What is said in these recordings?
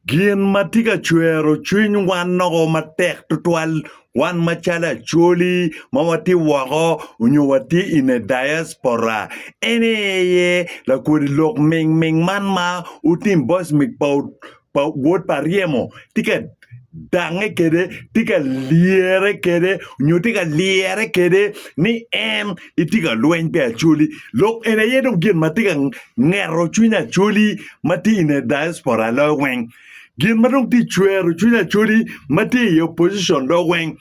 Gin ma tye ka cwero cwiny wan noko matek tutwal wan macalo Acholi ma watye woko nyo watye in a diaspora en aye lakodi lok ming ming man ma otim boys pa Wod pa Ryemo tye ka dange kwede, tye ka lyere kwede nyo tye ka lyere kwede ni en etye ka lweny pi Acholi. Lok eni aye dong gin ma tye ka ngeto cwiny Acholi ma tye i nge diaspora loyo weng. Gin ma dong tye ka cwero cwiny Acholi ma tye i opposition loyo weng.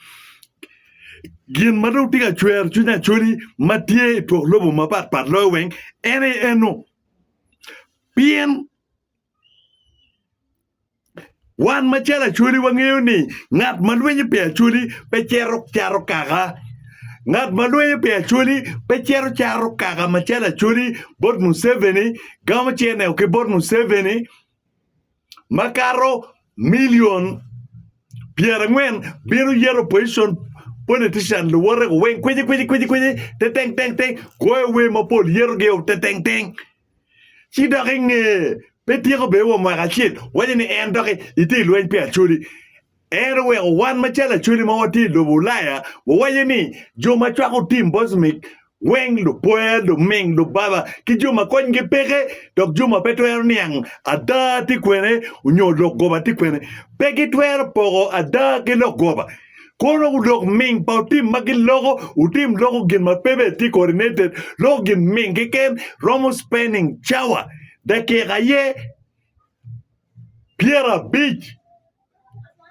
Gin ma dong tye ka cwero cwiny Acholi ma tye i twok lobo mapat pat loyo weng en aye eno. Pien. Wan macalo Acholi wangeyo ni ngat ma lwenyo pi Acholi pe cito cato kaka. Ngat ma lwenyo pi Acholi pe cito cato kaka macalo Acholi bot Museveni, gamo cene ki bot Museveni makato milion pyerangwen bino yero opposition politician luwote-gu weng kwicikwicikwici tetengtengteng goyo wer mapol yerogi o tetengteng. Ci dok i nge pe tyeko bene wa mwaka acel, waco ni en dok itye i lweny pi Acholi. En oweko wan macalo Acholi ma watye i lobo Ulaya wawaco ni jo ma cwako tim Bosmic weng lupoya, luming, lubaba ki jo ma konygi peke dok jo ma pe twero niang ada tye kwene nyo lok goba tye kwene. Pe gitwero poko ada ki lok goba. Kono wudok ming pa otim ma gin loko, wutim loko gin ma pe bene tye coordinated, loko gin ming keken romo spending cawa, dakika aye pyerabic,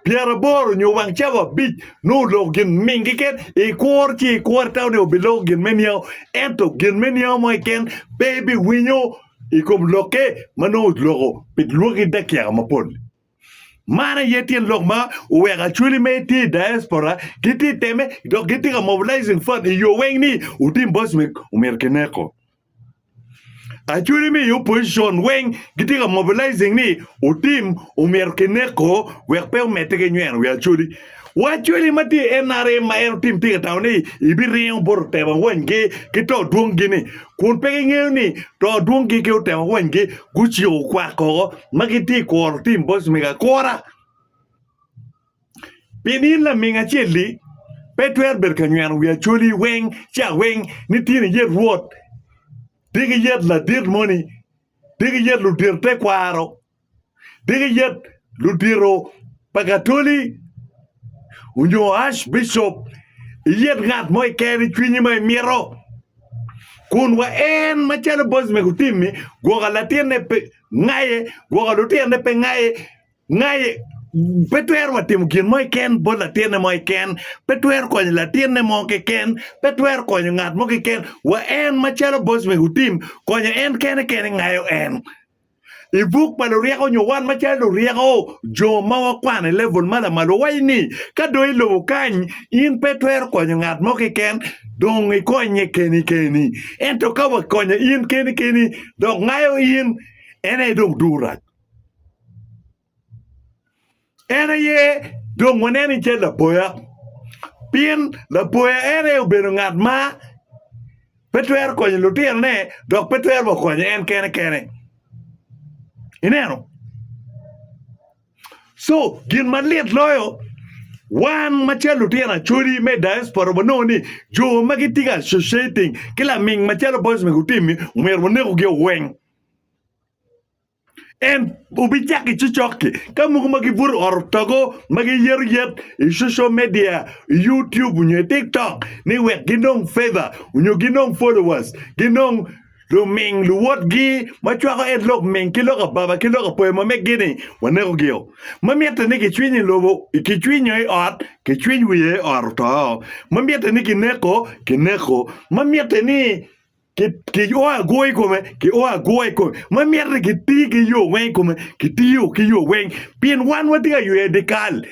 pyeraboro nyo wang cawa abic nongo oloko gin ming keken, ikur ci ikur ita onongo biloko gin me niango, ento gin me niango mo keken pe ibiwinyo i kom lokke ma nongo oloko pi lwaki dakika mapol. Man aye tyen lok ma oweko Acholi ma gitye i diaspora gitye ka temme dok gitye ka mobilizing fund i yo weng ni Otim Boys omyero kineko. Acholi me i opposition weng gitye ka mobilizing ni Otim omyero kineko wek pe omedde ki nyweno wi Acholi. Wa cwali ma tye i NRM ma en otim tika tawo ni ibiringo bot otemo wanygi ki to dwongi-ni, kun pe gingeyo ni to dwongi ki otemo wanygi guciko kwak koko ma gitye i kuro tim boc mego akura. Pi nino laming acel-li, pe twero bedo ka nyweno wi acwali weng ci aweng ni tye ni yet Rwot, tye ki yet ladit moni, tye ki yet ludir tekwaro, diki yet ludito pa Katoli onyo Ash Bishop iyet ngat mo keken i cwinyi ma imito kun wa en macalo boss me gutim ni gwoko latin ne pe ngaye gwoko lutino ne pe ngaye ngaye pe twero wa timo gin mo keken bot latin ne mo keken pe twero konyo latin ne mo keken pe twero konyo ngat mo keken wa en macalo boss me gutim konyo en kene kene ngayo en I buk pa Luryeko nyo wan macalo luryeko, jo ma wakwano i level ma lamal, wawaco ni ka dong i lobo kany in pe itwero konyo ngat mo keken, dong ikonye keni keni. Ento ka wakonye in keni keni dok ngayo in, en aye dong durac. En aye dong waneno i cal laboya pien laboya en aye obedo ngat ma pe twero konyo lutinone dok pe twero wa konyo en kene kene ineno co gin malit loyo wan macalo lutino acholi me i diaspora wanongo ni jo ma gitye ka associating ki laming macalo Bosnia Gutemi omyero wanekogi weng En obicako i coc-cokke ka mogo ma gibuto ot otogo ma giyero yet i coco media, i YouTube onyo i TikTok ni wek ginong feva onyo ginong followers, ginong luming luwotgi ma cwako en lok ming ki lok ababa ki lok apoya ma megi-ni wanekogio. Ma mitte ni gicwiny i lobo, gicwinyo i ot, gicwiny wiye ot oto. Ma mitte ni gineko, gineko. Ma mitte ni kio agwo i kome, kio agwo i kome. Ma myero ni kiti ki yo weng i kome, kitiyo ki yo weng. Pien wan watye ka yweyo dikal.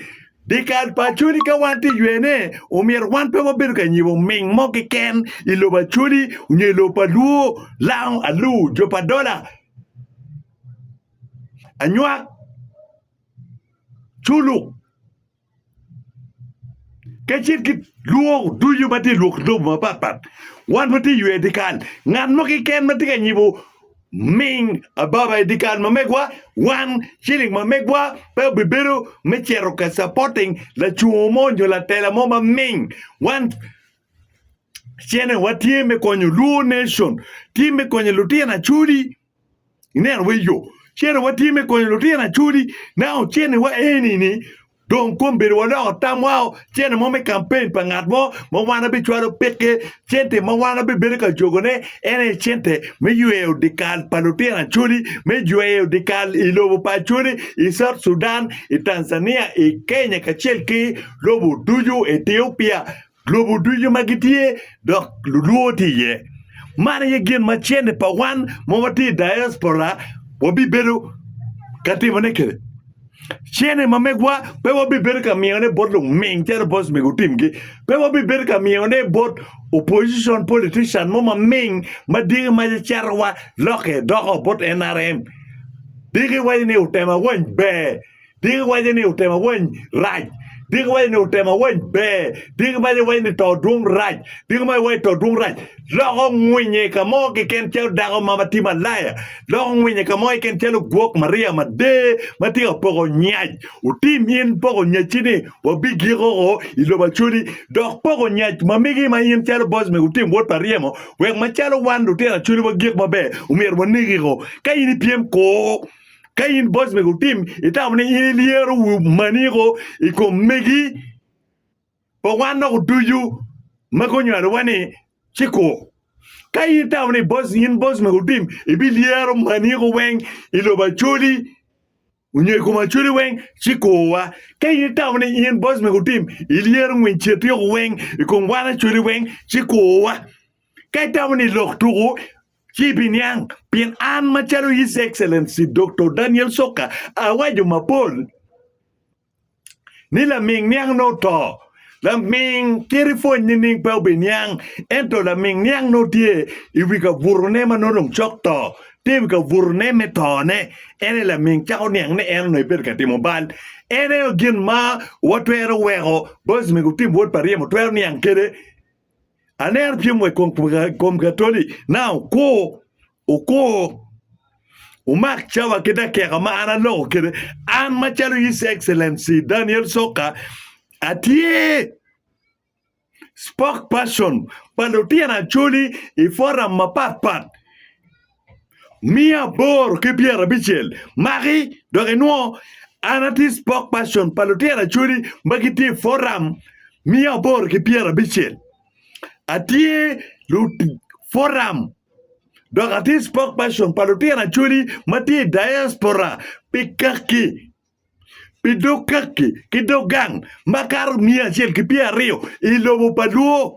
Dikal pa Acholi ka wan ti ywene, omyero wan pe wabedo ka nyibo ming mo keken i lobo Acholi nyo i lobo pa Luo, Lao, Alur, jo pa Dola, Anywak, Culuk. kacel ki lwok ducu ma tye i lwok lobo mapatpat wan watye ywe dyekal ngat mo keken ma tye ka nyibo ming ababa i dyekal ma megwa wan ciling ma megwa pe obibedo me cito ka capoting lacoo mo nyo latela mo ma ming wan cente wa tye me konyo luo nation tye me konyo lutino acholi Ineno bene yo cente watye me konyo lutino Acholi. Nanga oceniwa eni ni dong kom bedowa oloko tam wao cente mo me kampen pa ngat mo ma wan abicwalo peke cente ma wan abibedo ka jogone en aye cente me yweyo dikal pa lutino Acholi me jweyo dikal i lobo pa Acholi i South Sudan i Tanzania i Kenya kacel ki lobo ducu Ethiopia lobo ducu ma gitye dok lulwo tye iye. Man aye gin ma cente pa wan ma watye i diaspora wabibedo ka timone kwede. Cente ma megwa pe wabibedo ka miyone bot luming calo boss me gutimgi. Pe wabibedo ka miyone bot opposition politician mo ma ming ma diki mace catowa lokke doko bot NRM. Diki waci ni otema wany ber. Diki waco ni otemo awany rac. Diki waco ni otemo awany ber. Diki maco waco ni to dwong rac. Diki maco waco to dwong rac. Loko ngwinye i ka mo keken calo dako ma matye malaya. Loko ngwinye i ka mo keken calo gwok Maria mader ma tye ka poko nyac. Otim in poko nyacci ni wabigiko ko i lobo Acholi, dok poko nyac ma migi ma in calo boc me Otim wod pa ryemo, wek macalo wan lutino Acholi wagik maber, omyero wanegi ko. Ka in ipyem, kur. Ka in boss mego tim itamo ni in ilyero maniko i kom megi pa wan dok oducu ma gunywalowa ni ciko. Ka in itamo ni boss in boss mego tim ibilyero maniko weng i lobo Acholi onyo i kom Acholi weng ci kowa. Ka in itamo ni in boss mego tim ilyero ngwiny Cetiko weng i kom wan Acholi weng ci kowa. Ka itamo ni lok tuku Ci ibiniang, pien an macalo His Excellency Doktor Daniel Soka awaco mapol ni laming niang nongo oto. Laming kit ipwony nining pe obiniang, ento laming niang nongo tye i wi kabutone ma nongo dong cok to, tye i wi kabutone me tone. En aye laming cako niang ni en onongo ebedo ka timo bal. En aye gin ma watwero weko Bosmik otim wod pa ryemo twero niang kwede. Aneno pyem wa i kom katoli na okur okur umak cawa ki dakeka ma an aloko kede an macalo His Excellency Daniel Soka atye spokesperson pa lutino Acholi i forum mapat pat. Miya aboro ki pyerabicel maki dok inwo an atye spokesperson pa lutino acholi ma gitye i foram miya aboro ki pyerabicel atye foram dok atye spokesperson pa lutino acholi ma tye i diaspora pi kaki pi dog kaki ki dog gang makato miya acel ki pyeraryo i lobo pa lwoo.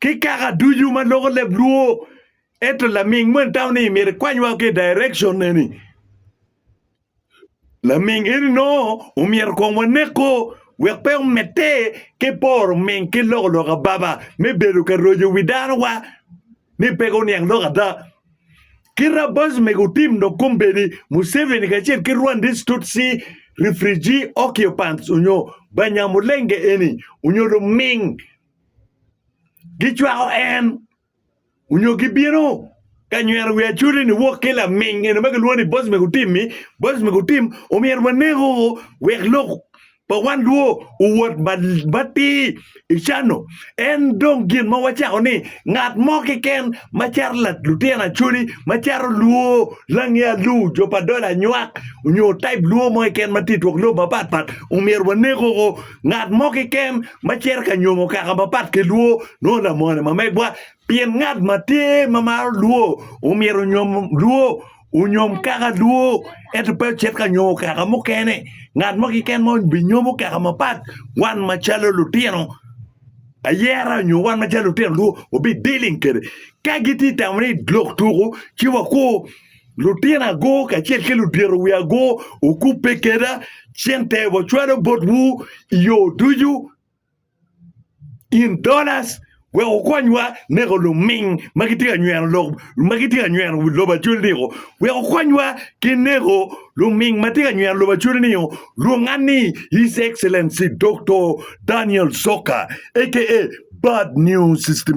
ki kaka ducu ma loko leb luo ento laming moni tamo ni myero ikwany wa ki i direction eni laming eni nongo omyero kong waneko wek pe omedde ki poro ming ki loko loka baba me bedo ka roco wi dano wa ni pe guniang lok ada Ker Abbas mege otim dok kombeddi Museveni kacel ki Rwandese Tutsi refugee occupants onyo Banyamulenge eni onyo luming gicwako en onyo gibino ka nyweno wi Acholi ni wok ki laming eno ma kilwongo ni Bosmik Otim-mi, Bosmik Otim omyero waneko wek lok pa wan lwor owot matir i cano. En dong gin ma wacako ni ngat mo keken macaro lutino acholi macaro lwor lange alu jo pa dola anywak onyo type lwor mo keken matye i twok lobo mapat pat omyero wanek oko ngat mo keken macito ka nyomo kaka mapat ki lwor nongo lamone ma megwa Pien ngat ma tye ma maro lwo omyero onyom lwo, onyom kaka lwo, ento pe ocit ka nyomo kaka mukene. Ngat mo keken ma binyomo kaka mapat wan macalo lutino ayera nyo wan macalo lutino lwo wabidiling kwede. Ka gitye ka tamo ni lok tuko ci wakur lutino ago kacel ki ludito wiye ago okubbe kweda cente wacwalo botwu i yo ducu. in donors wek wukonywa neko luming ma gitye ka nyweno lok ma gitye ka nyweno wi lobo acwal ni o wek wukonywa ki neko luming ma tye ka nyweno lobo acwali ni o lwonga ni His Excellency Doktor Daniel Zoka aka Bad News System.